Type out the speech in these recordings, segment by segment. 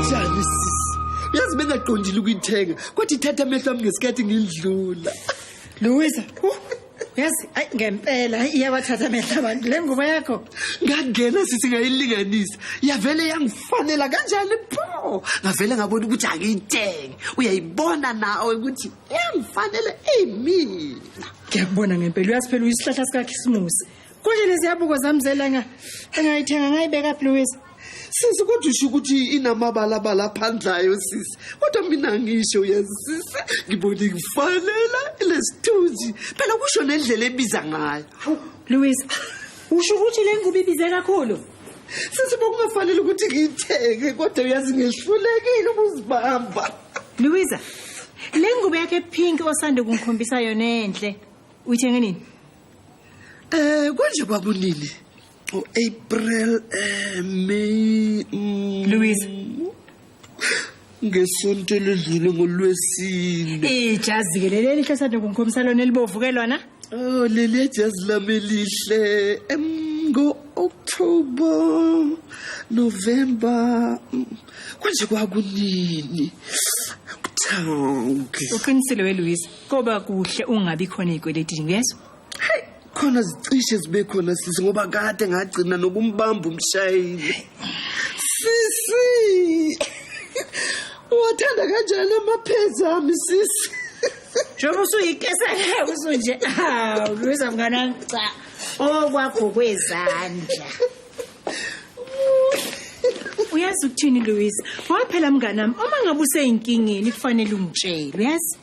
njani sisi uyazi bengaqondile ukuyithenga kodwa ithatha amehlo ami ngesikhathi ngindlula louisa yazi ayi ngempela hayi iyawathatha amehla abantu le ngubo yakho ngangena sithi ngayilinganisa yavele yangifanela kanjani pho ngavele ngabona ukuthi angiyitenge uyayibona nawe ukuthi yangifanele imina ngiyakubona ngempela uyazi phela uyisihlahla sikakhisimusi Konje leziyabuko zami zelanga engayithenga ngayibeka Louise. Sisi kodwa usho ukuthi inamabalabala aphandlayo sisi. Kodwa mina ngisho uyazisisa ngibona ngifanela lesithunzi. Phela kusho nendlela ebiza ngayo. Louise, usho ukuthi le ngubo ibize kakhulu? Sisi bokungafanele ukuthi ngiyithenge kodwa uyazi ngihlulekile ukuzibamba. Louise, le ngubo yakhe pink osande kungikhombisa yona enhle. Uyithenge nini? Eh konje kwakunini? O April, eh May. Mm, Louise. Ngesonto ledlule ngolwesine. Ijazi ke leli lihle sade kungikhomisa lona elibovu ke lona. Oh leli ejazi lami lihle. Em ngo October, November. Mm, Konje kwakunini? Kuthawuke. Uqinisile we Louise. Koba kuhle ungabi khona ezikweletini uyezwa? Hey, khona zicishe zibe khona sisi ngoba kade ngagcina nokumbamba umshayeli. Sisi. Wathanda kanjani amaphezi ami sisi? Njengoba usuyikesa ngeke usunje. Hawu, Luza mngana cha. Okwakho oh, kwezandla. Uyazi ukuthini Louise? Waphela mnganami, uma ngabe useyinkingeni kufanele ungitshele, uyazi?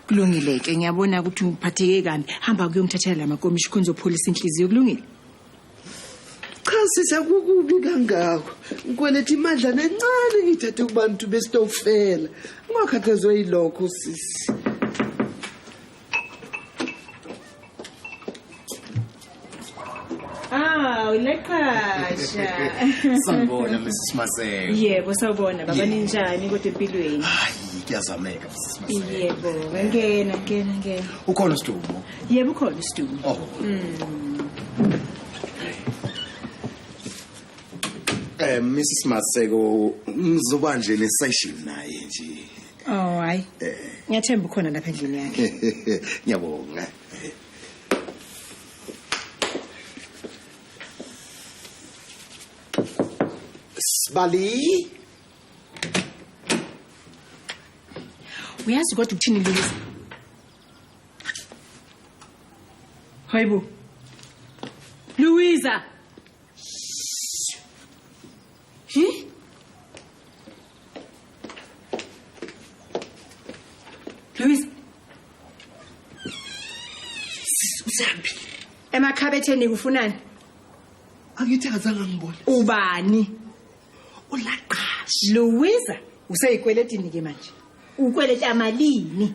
kulungile ke ngiyabona ukuthi uphatheke kabi hamba kuyomthathela la makomishi khona uzopholisa inhliziyo kulungile cha sisi akukubi kangako ngikweleta imadlana encane ngiyithathe kubantu besitokfela ungakhathazwe yilokho sisi Ah, uleqasha. Sanibona Mrs Maseko. Yebo, sawubona baba ninjani kodwa empilweni? Hayi, kuyazameka Mrs Maseko. Yebo, ngena ngena ngena. Ukhona uSdumo? Yebo ukhona uSdumo. Oh. Mm. Eh Mrs Maseko, ngizobanje nesession naye nje. Oh hayi. Ngiyathemba ukhona lapha endlini yakhe. Ngiyabonga. Sibali. Uyazi kodwa ukuthini Lisa? Hayibo. Louisa. Hi? Louise. Sisi usambi. Emakhabetheni kufunani? Angithi akazange ngibone. Ubani? Ulaqashi. Louise useyikweletini ke manje. Ukweleta malini?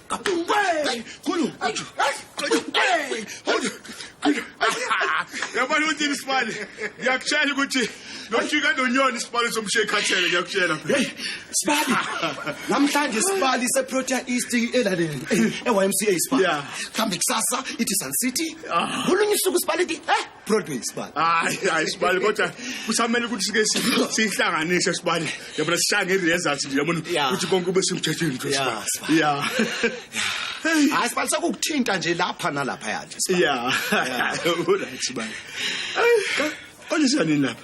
yabona ukuthi ini sibali ngiyakutshela ukuthi nofika nonyoni isibali somshiye ekhathele ngiyakutshela Hey, Sibali. Namhlanje Sibali seProtea East elaleni. EYMCA Sibali. Yeah. Kambe kusasa ithi Sun City. Kulunye usuku Sibali ithi, "Eh, Broadway sibali. Hayi hayi sibali kodwa kusamele ukuthi sike si- sihlanganise sibali. Yabona sishange i-results nje yabona Yeah. ukuthi konke kube semthethweni nje Yeah, sibali. Yeah. Hayi sibali sekukuthinta nje lapha nalapha yathi. Yeah. Uthi sibali. Kodwa siyanini lapha?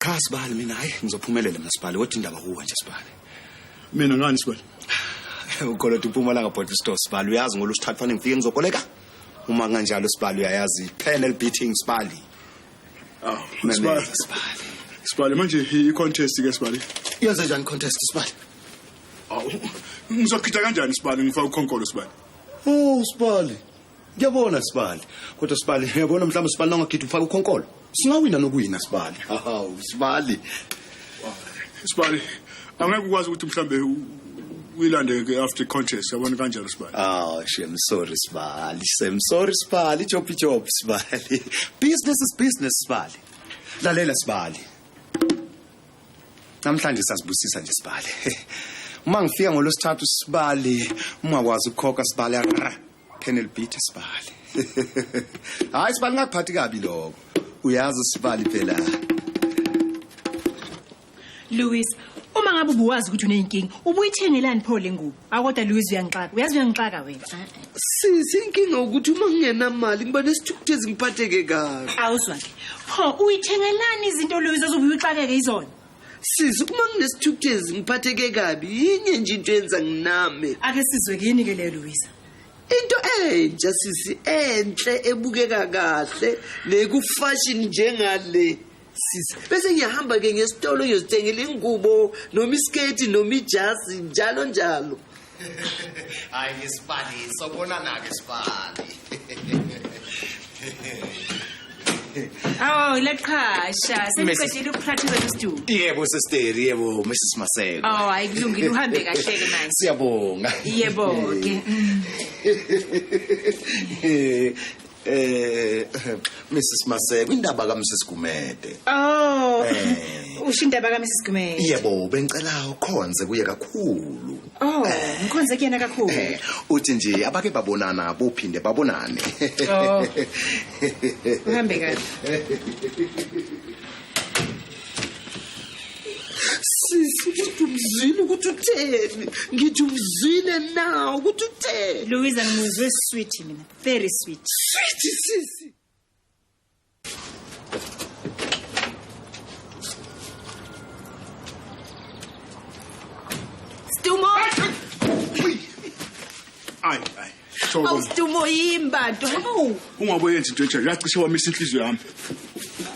Cha sibali mina hayi ngizophumelela mina sibali kodwa indaba kuwe nje sibali. Mina ngani sibali? Ukolota impumalanga body store sibali uyazi ngolu sithathu fanele ngifike ngizokoleka. Uma kanjalo sibali uyayazi panel beating sibali. Aw, Meme, sibali. sibali. Sibali manje i contest ke sibali. Yenze njani contest sibali? Aw, ngizokhitha kanjani sibali ngifaka ukhonkolo sibali? Oh sibali. Ngiyabona Sibali. Kodwa Sibali, uyabona mhlawumbe Sibali nangagidi ufaka ukhonkolo. Singawina nokuwina Sibali. Hawu, Sibali. Sibali, angeke ukwazi ukuthi mhlambe uyilande ke after contest yabona kanjalo Sibali. Oh, shem sorry Sibali. Shem sorry Sibali, job job Sibali. Business is business Sibali. Lalela Sibali. Namhlanje sasibusisa nje Sibali. Uma ngifika ngolosithathu Sibali, ungakwazi ukukhokha Sibali. Colonel Beat Sibali. Hayi Sibali ngakuphathi kabi lokho. Uyazi Sibali phela. Louis, uma ngabe ubuwazi ukuthi uneyinkinga, ubuyithengelani pho lengubo? Akoda Louis uyangixaka. Uyazi uyangixaka wena. Sisi inkinga ukuthi uma ngingenamali ngiba nesithukuthezi ngiphatheke kabi. Awuzwa ke. Pho uyithengelani izinto Louis ozobuye uxakeke izona? sisi uma nginesithukuthezi ngiphatheke kabi yinye nje into yenza nginame ake sizwe kini ke leyo Louisa into entsha sisi enhle ebukeka kahle nekufashion njengale sisi bese ngiyahamba ke ngesitolo ngiyozithengela ingubo noma isketi noma ijazi njalo njalo hayi ke sibali sobonana ke sibali Oh, leqhasha. Sengiqedile ukupractice estudio. Yebo sister, yebo Mrs Maseko. Oh, ayikulungile uhambe kahle ke manje. Siyabonga. Yebo ke. Eh Mrs Maseko indaba ka Mrs Gumede. Oh. Eh. Usho indaba ka Mrs Gumede. Yebo bengicela ukhonze kuye kakhulu. Oh, eh. ngikhonze kuyena kakhulu. Eh, uthi nje abake babonana bophinde babonane. Oh. Uhambe kahle. sisi ukuthi umzwile ukuthi utheni ngithi umzwile nawo ukuthi utheni louisa ngimuzwe sweet mina very sweet sweet sisi Stumo Ay ay Sobo Awu Stumo yimbado Awu Ungabe yenza into enjalo yacishe wamisa inhliziyo yami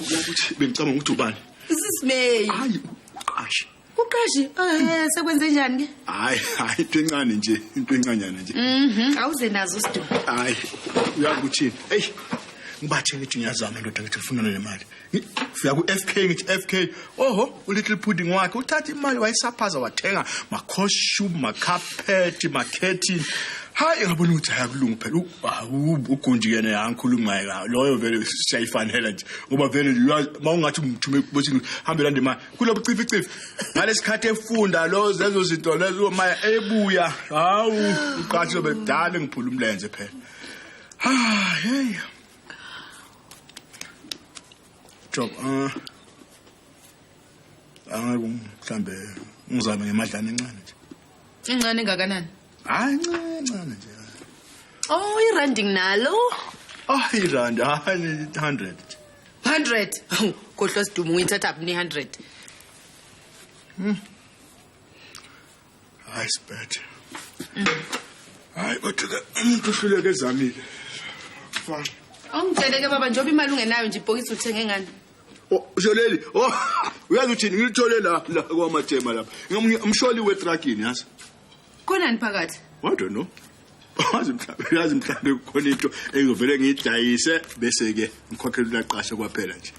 Ukuthi bengicabanga ukuthi ubani This is me Hayi uqashe Uqashi eh sekwenze njani ke? Hayi, hayi into encane nje, into encanyana nje. Mhm, awuze nazo usidumo. Hayi, uyakuthini? Ey, ngibathe ngithi ngiyazama ndoda ngithi ngifuna le mali. Ngi- Ngifika ku FK ngithi FK, oho, u little pudding wakhe uthatha imali wayisaphaza wathenga ma costume, ma carpet, ma curtain. Hayi ngabona ukuthi hayakulunga phela. U- Hawu, ugunji yena yangikhuluma ngayo. Loyo vele siyayifanela nje. Ngoba vele uyazi, mawungathi umthume kubosini, hambe lande imali. kulobu cificifi ngalesikhathi efunda lo zezo zinto lezo maya ebuya hawu uqathi lobe kudala ngiphula umlenze phela ha ah, hey job ah angeke mhlambe ngizame ngemadlana encane nje Incane ngakanani? Hayi ncane ncane nje. Oh, irandi nalo. Ah, irandi hayi 100. 100. Kodwa sidumo uyithatha phi 100? Hmm. Hayi sibethe. Hayi kodwa umuntu uhluleke ezamile. Fa. Ongitsheleke baba njengoba imali ungenayo nje ibhokisi uthenge ngani? Oh, usho leli oh uyazi uthini ngilithole la la kwamajema lapha ngamunye umsholi wetragini yazi kunani phakathi i don't know wazi mhlawumbe yazi mhlawumbe kukhona into engivele ngidayise bese ke ngikhokhela ulaqashe kwaphela nje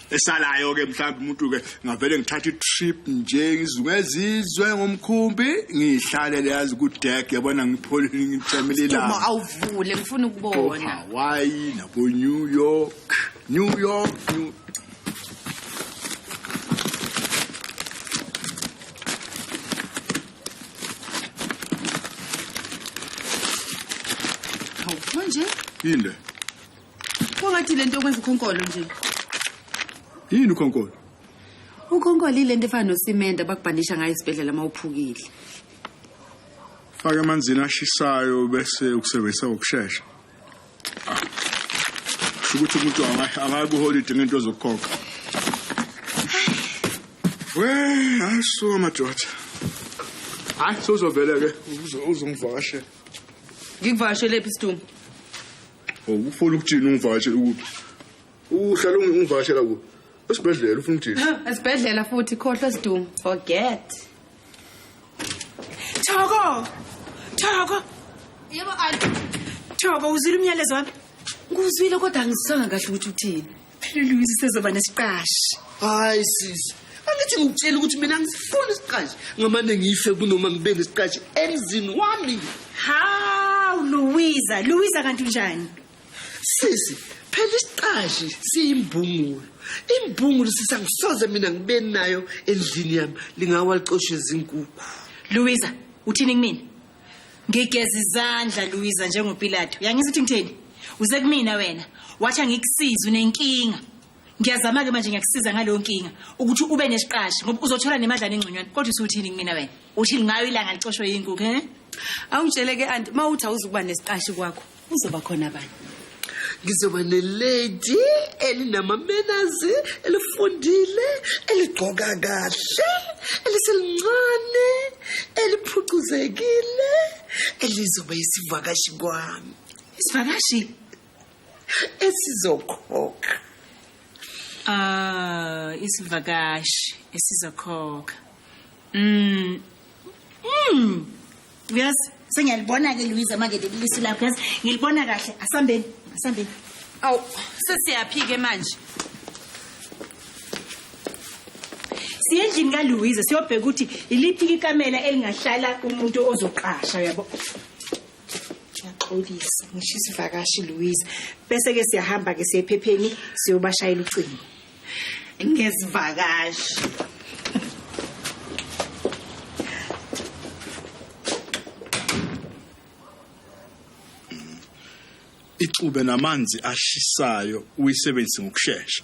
esalayo ke mhlawumbe umuntu ke ngavele ngithatha itrip nje ngizungezizwe ngomkhumbi ngihlale leyazi ku deck yabona ngipholile ngithamile la awuvule ngifuna ukubona why na bo New York New York, New Hawu, manje yini le kwangathi le nto okwenza ukhonkolo nje yini ukhonkolo ukhonkolo ile nto efana nosimende abakubhandisha ngayo esibhedlela uma uphukile fake emanzini ashisayo bese ukusebenzisa ngokushesha ukuthi umuntu akayi kuholide ngento zokukhokha we hayi suka madoda hayi sozovele ke uzongivakashela ngikuvakashelephi isitumo oh, ufuna ukuthini ungivakashele kuphi uhlala ungivakashela kuphi esibhedlela ufuna ukuthini esibhedlela futhi khohlwa sidumo forget Thoko! Thoko! Yebo anti. Thoko uzwile umyalezo wami? Nguzwile kodwa angisanga kahle ukuthi uthini. Phela Louise sezoba nesiqashi. Hayi sisi. Angithi ngitshela ukuthi mina ngisifuna isiqashi ngamane ngife kunoma ngibe nesiqashi emzini wami. Haw Louisa, Louisa kanti unjani? sisi phela isiqashi siyimbungulu imbungulu sisa ngisoze mina ngibe nayo endlini yami lingawa licoshe izinkukhu louisa uthini kumina ngigeza izandla louisa njengopilato yangizwa ukuthi ngitheni uze kumina wena wathi angikusize unenkinga ngiyazama-ke manje ngiyakusiza ngaleyo nkinga ukuthi ube nesiqashi ngoba uzothola nemadlana engconywana kodwa usuthini kumina wena uthini ngayo ilanga licoshwe yinkukhu um awungitshele-ke anti uma uthi awuzukuba nesiqashi kwakho Uzoba khona bani? Ngizoba nelady elinamamenazi elifundile eligqoka kahle eliselincane eliphucuzekile elizoba isivakashi kwami. Isivakashi esizokhokha. Ah, isivakashi esizokhokha. Mm. Mm. uyazi sengiyalibona-ke luyiza manje lelilisi lakho yazi ngilibona kahle asambeni asambeni awu sesiyaphi-ke manje siyendlini kaluwiza siyobheka ukuthi iliphi ikamela elingahlala umuntu ozoqasha yabo ngiyaxolisa ngisho isivakashi luwiza bese-ke siyahamba-ke siyephepheni siyobashayela ucingo ngezivakashi ixube namanzi ashisayo uyisebenzise ngokushesha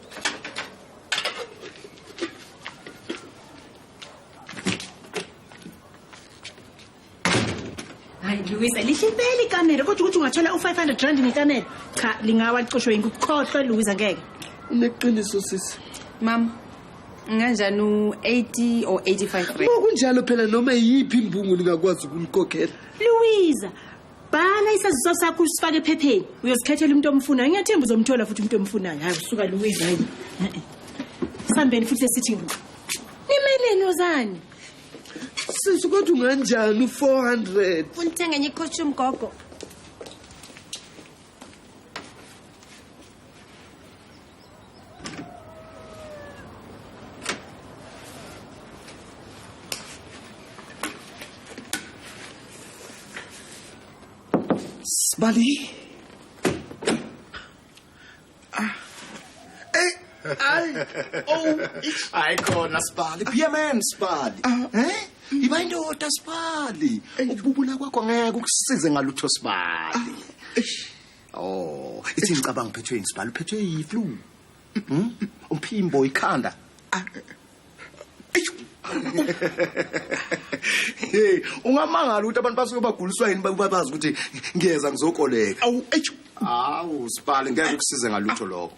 hayi luwisa lihle impela ikamera kodwa ukuthi ungathola u-five hundred rand ngekamera cha lingawa licoshwe yinkuku khohlwe luwisa ngeke uneqiniso sisi mama nganjani u-eighty or eighty-five rand kunjalo phela noma yiphi imbungu ningakwazi ukumkhokhela luwiza bhala isaziso sakho usifake ephepheni uyozikhethela umuntu omfunayo ngiyathemba uzomthola futhi umuntu omfunayo hayi usuka luwezi hayi sambeni futhi esithi nimeleni ozani sisi kodwa unganjani u-four hundred funa uthenga enye ikhoshi umgogo Sbali. Ah. Hey. Ay. Oh. Ay, khona Sbali. Be a man, Sbali. Ah. Eh? Iba indoda Sbali. Ukububula kwakho ngeke ukusize ngalutho Sbali. Ah. Oh, ithi ngicabanga uphethwe yini sibhala uphethwe yiflu. Mhm. Umphimbo ikhanda. Ah, Hey, ungamangala ukuthi abantu basuke baguliswa yini bakuba bazi ukuthi ngiyeza ngizokoleka. Awu, eish. Awu, sibhala ngeke ukusize ngalutho lokho.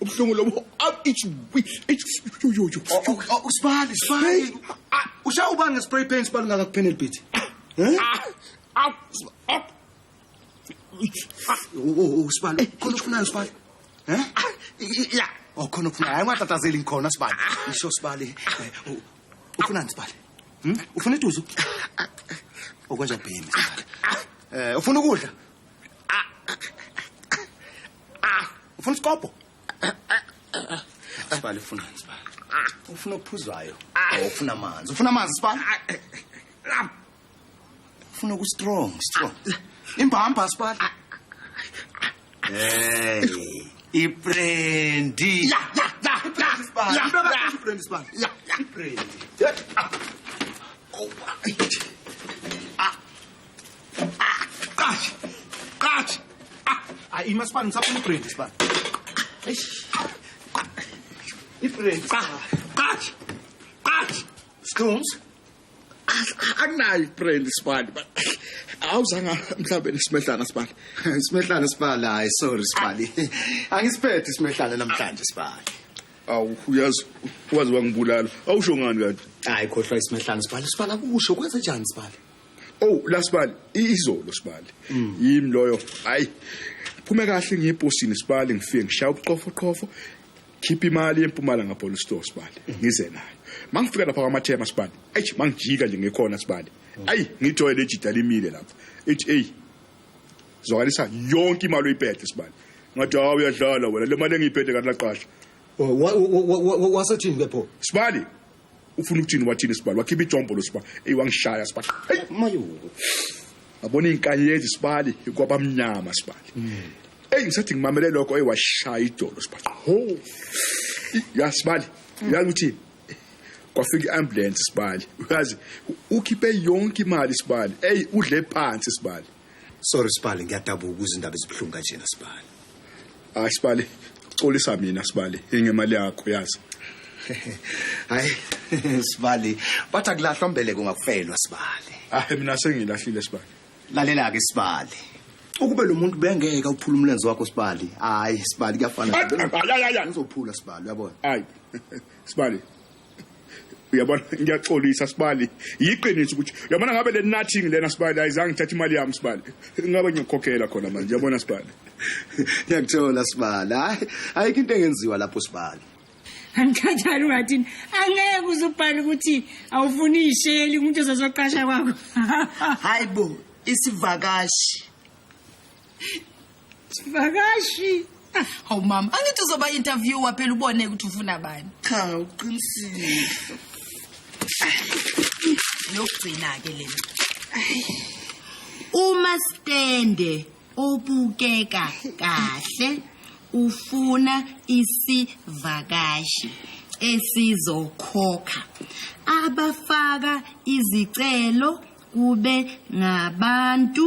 ubuhlungu lobo usibali sibali usha ubani ngespray paint sibali ngakakuphene libhithi usibali khona ufunayo sibali um ya o khona ufunayo hayi ungatatazeli ngikhona sibali isho sibali ufunani sibali ufuna iduzu okwenja bhemi sibali um ufuna ukudla ah ufuna isikobho sibale ufuna sibale ufuna okuphuzwayo or ufuna amanzi ufuna amanzi sibale ufuna ku strong strong imbamba sibale hey ibrendi ya ya ya ya sibale ya ya ibrendi sibale ya ya ibrendi Qatshi. Qatshi. Ah, ayi masibani ngisafuna ibrand sibani. Eish. Ibrand. Qatshi. Qatshi. Scones. Akunayo ibrand sibani. Awuzanga mhlawumbe nesimedlana sibani. Isimehlana sibali hayi sorry sibali. Angisiphethe isimehlana namhlanje sibali. Awu uyazi wazi wangibulala. Awusho ngani kanti? Hayi khohlwa isimehlana sibali. Sibali akusho kwenze njani sibali? Oh lasibali izolo sibali. Mm. Yimi loyo. Hayi. Phume kahle ngiyeposini sibali ngifike ngishaya ubuqofo qofo. Khipha imali empumala ngapolice store sibali. Mm. Ngize nayo. Mangifika lapha kwamathema sibali. Ayi mangijika nje ngekhona sibali. Mm. Ayi ngithoyile ejida limile lapha. Ithi hey. Zwakalisa yonke imali oyiphethe sibali. Ngathi hawu uyadlala wena le mali engiyiphethe kanti laqasha. Oh, Wasethini ke pho? Sibali. ufuna ukuthini wathini sibali wakhipha ijombolo siba eyi wangishaya sibali eyi mayo abona iy'nkanyezi sibali kwabamnyama sibali eyi ngisathi ngimamele lokho eyi washaya idolo sibali ho ya sibali uyazi ukuthi kwafika i-ambulance sibali uyazi ukhiphe yonke imali sibali eyi udle phansi sibali Sorry Sibali ngiyadabuka ukuze indaba ezibuhlungu kanjena Sibali. Hayi Sibali, xolisa mina Sibali, ingemali yakho yazi. Hayi Sibali, bathi akulahlwa mbeleko ngakufelwa Sibali. Ah mina sengilahlile Sibali. Lalela ke Sibali. Ukube lo muntu bengeke uphula umlenze wakho Sibali. Hayi Sibali kuyafana. Ngizophula Sibali uyabona. Hayi. Sibali. uyabona ngiyaxolisa sibali yiqiniso ukuthi uyabona ngabe le nothing lena sibali ayizange ngithathe imali yami sibali ngabe ngiyokhokhela khona manje uyabona sibali ngiyakuthola sibali hayi ayikho into engenziwa lapho sibali angikhathali ungathini angeke uze ubhale ukuthi awufuni isheli umuntu ozozoqasha kwakho hayi bo isivakashi Sivakashi. Ah, hawu mama, angithi uzoba interviewer phela ubone ukuthi ufuna bani. Cha, uqinisile. Yokugcina ke lena. Uma stende obukeka kahle ufuna isivakashi esizokhokha abafaka izicelo kube ngabantu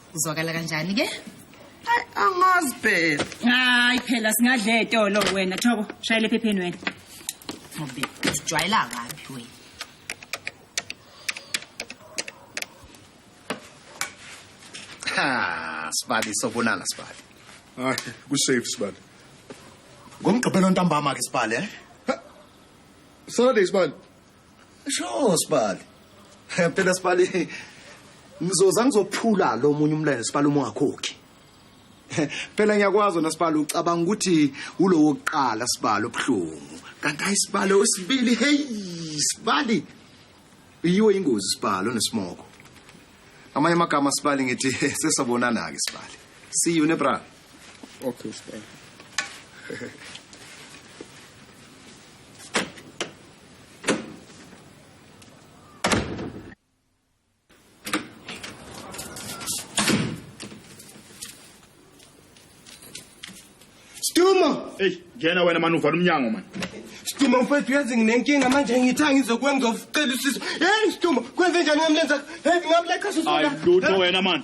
Uzwakala kanjani ke? Ay angazi phela. Hayi phela singadle etolo wena Thoko shayela ephepheni wena. Ngobe ujwayela kabi wena. Ha, sibali sobonana sibali. Hayi, ku safe sibali. Ngomgqibelo ntambama ke sibali eh? Saturday sibali. Sho sibali. Phela sibali ngizoza ngizophula lo munye umlele sibali uma ungakhokhi. Phela ngiyakwazi wena sibali ucabanga ukuthi ulowo kuqala sibali obuhlungu. Kanti ayisibali osibili hey sibali. Yiwe ingozi sibali onesimoko. Amanye amagama sibali ngithi sesabonana ke sibali. See you nebra. Okay sibali. Stuma! Hey, ngena wena mani uvala umnyango mani. Stuma mfethu uyazi nginenkinga manje ngithanga ngizokwenza ufuqela usizo. Hey Stuma, kwenze njani ngamlenza? Hey ngamleqa sisona. Ayilutho wena mani.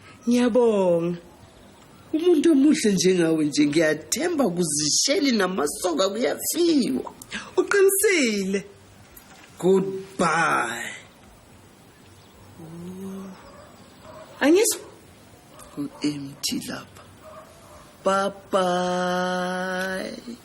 ngiyabonga umuntu omuhle njengawe nje ngiyathemba kuzisheli namasoka kuyafiwa uqinisile goodbye angisho ku-empty lapha bye bye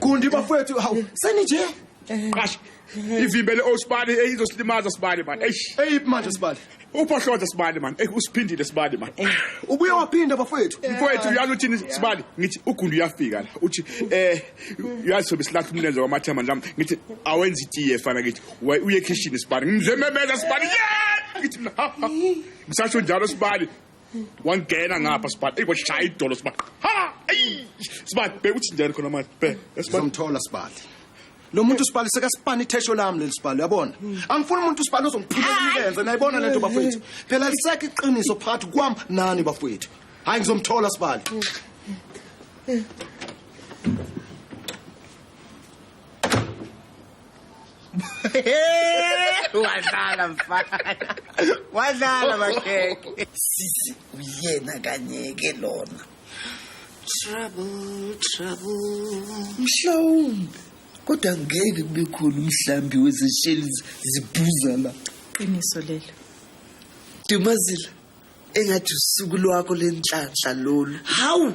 Gundi bafowethu hawu seni nje. Qasha. Ivimbele osibani eyizosilimaza sibani man. Eish. Hey manje sibali. Uphohloza sibani man. Ey usiphindile sibani man. Ubuye waphinda bafowethu. Mfowethu uyazi uthini sibali ngithi ugundi uyafika la uthi eh uyazi sobe silahla umlenze wamathema nami ngithi awenza itiye fana ngithi "Wa- uye ekhishini sibali ngimzememeza sibali yeah ngithi mina, ha, ha. ngisasho njalo sibali wangena ngapha sibani eyi kwashaya idolo sibani ha eyi sibani bheka ukuthi njani khona manje bheka sibani sizomthola sibali lo muntu sibali sekasipani ithesho lami leli sibali uyabona angifuni umuntu sibali ozongiphilela imilenze nayibona lento bafowethu phela lisekho iqiniso phakathi kwam nani bafowethu hhayi ngizomthola sibali wadlala mfana wadlala makhekhe sisi uyena kanyeke lona trouble trouble mhlawumbe kodwa ngeke kube khona umhlambi wezesheli zibhuza la qiniso lelo dumazila engathi usuku lwakho lenhlanhla lolu hawu